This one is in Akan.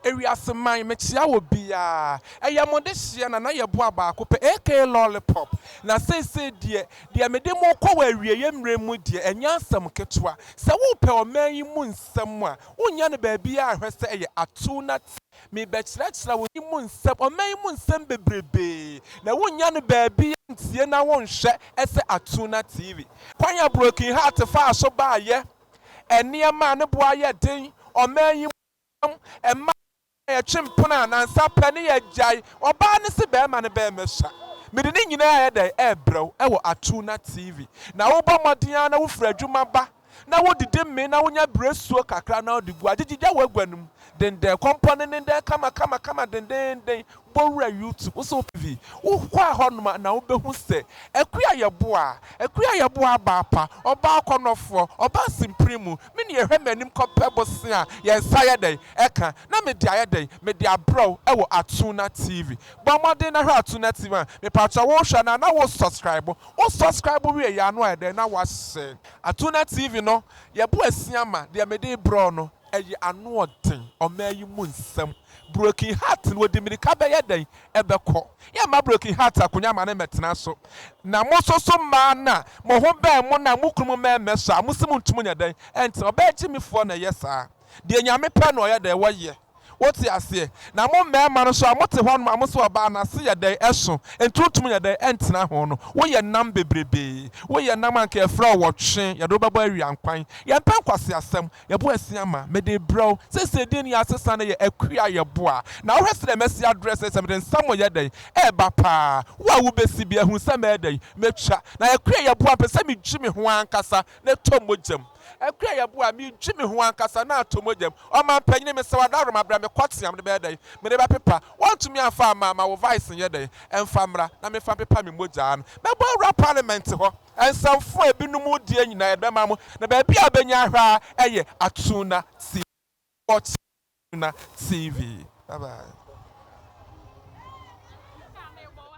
Ewiase man, mekyea wɔ biaa. Ɛyɛ mo de hyeɛ na na yɛ boa baako pɛ aka lollipop. Na seisei deɛ, deɛ mede mo kɔ wɔ awieɛ mmerɛ mu deɛ ɛnyɛ asɛm ketewa. Sɛ wopɛ ɔman yi mu nsɛm a, wonnya no baabiaa hwɛ sɛ ɛyɛ atuu na te. Mebɛkyerɛkyerɛ wo yi mu nsɛm, ɔman yi mu nsɛm bebrebee, na wonnya no baabiaa ntie na wonhwɛ sɛ atuu na TV. Kwan a Broken Heart faa so baayɛ, nneɛma a ne boa yɛ den ɔman yi mu. Ɔbɛn mma a yɛtwe mpena a nansa pɛ ne yɛagyae, ɔbaa no se bɛɛma no bɛɛmɛsa. Mede ne nyinaa yɛ dɛn ɛɛbrɛ wo ɛwɔ atuu na TV na wobɔ mmɔden ara na wofiri adwuma ba na wodidi mee na wonya biresuo kakra na wode gu agyegyegya w'agua no mu dendɛn kɔmpɔnenenden kama kama kama dendennden Bɔ wura YouTube wo sɛ wopɛ bi. Wo kɔ a hɔ nom a na wo bɛ hu sɛ Akua yɛ boa. Akua yɛ boa abaa pa, ɔbaa akɔnɔfoɔ, ɔbaa simpire mu. Me nua hwɛ m'anim kɔ pɛ bosea a yɛn nsa ayɛ dɛn ɛka na me de ayɛ dɛn me de abrɛ wo ɛwɔ Atuna TV. Bɔ mmɔden na hwɛ Atuna TV a mepakyɛw wo hwɛ no a na wo sɔskraibo. Wo sɔskraibo wie yɛ a na wayɛ dɛn na wo ahyɛ. Atuna TV no yɛ bo asia ma deɛ me de rebrɛ wo no ɛyɛ ano ɔden ɔmaa yi mu nsɛm. Broken Heart no wɔde mmirika bɛyɛ dɛn bɛkɔ? Yɛmma Broken Heart akonnwa mma no mmɛtena so. Na mo nso so mmaa no a mo ho bɛn mo no a mo kununom mmɛn mmɛsɔ a, mo se montumi nyɛ dɛn ntena? Ɔbaa gyimifoɔ na ɛyɛ saa. Deɛ Nyame pɛ na ɔyɛ dɛn? Ɔyɛ. Wote aseɛ? Na mo mmarima no nso a mote hɔnom a mo se ɔbaa no ase yɛ dɛn? Ɛso. Enti wontumi nyɛ dɛn ntena ho no? Woyɛ nam bebrebee. Woyɛ nam a anka yɛfrɛ wo ɔtwe, yɛde wo bɛbɔ awiankwan. Yɛmpɛ nkwaseasɛm. Yɛboa asia ma mede rebrɛ wo seesei din no yɛ Asesa no yɛ akuo a yɛboa na wohwɛ sɛdeɛ mɛsi adrɛ seesei mede nsa mo yɛ dɛn reba paa wo a wobɛsi bi ahunu sɛ mɛyɛ dɛn mɛtwa na akuo a yɛboa mpɛ sɛ medwi me ho ankasa na ɛtɔ mogya mu akuo a yɛboa medwi me ho ankasa na atɔ mogya mu ɔmampanyini mesɛ wo adaworoma berɛ me kɔ tea mede bɛyɛ dɛn mede bɛpepa wɔntumi amfa amma ma wo vice nyɛ dɛn ɛmfa mmra na memfa mpepa me mogyaa no mɛbɔ awura parliament hɔ. Nsamfo a ebinom deɛ nyinaa yɛbɛma mo, na baabi a wobɛnya ahwɛ ara yɛ Atuna TV. Watch Atuna TV. Bye bye.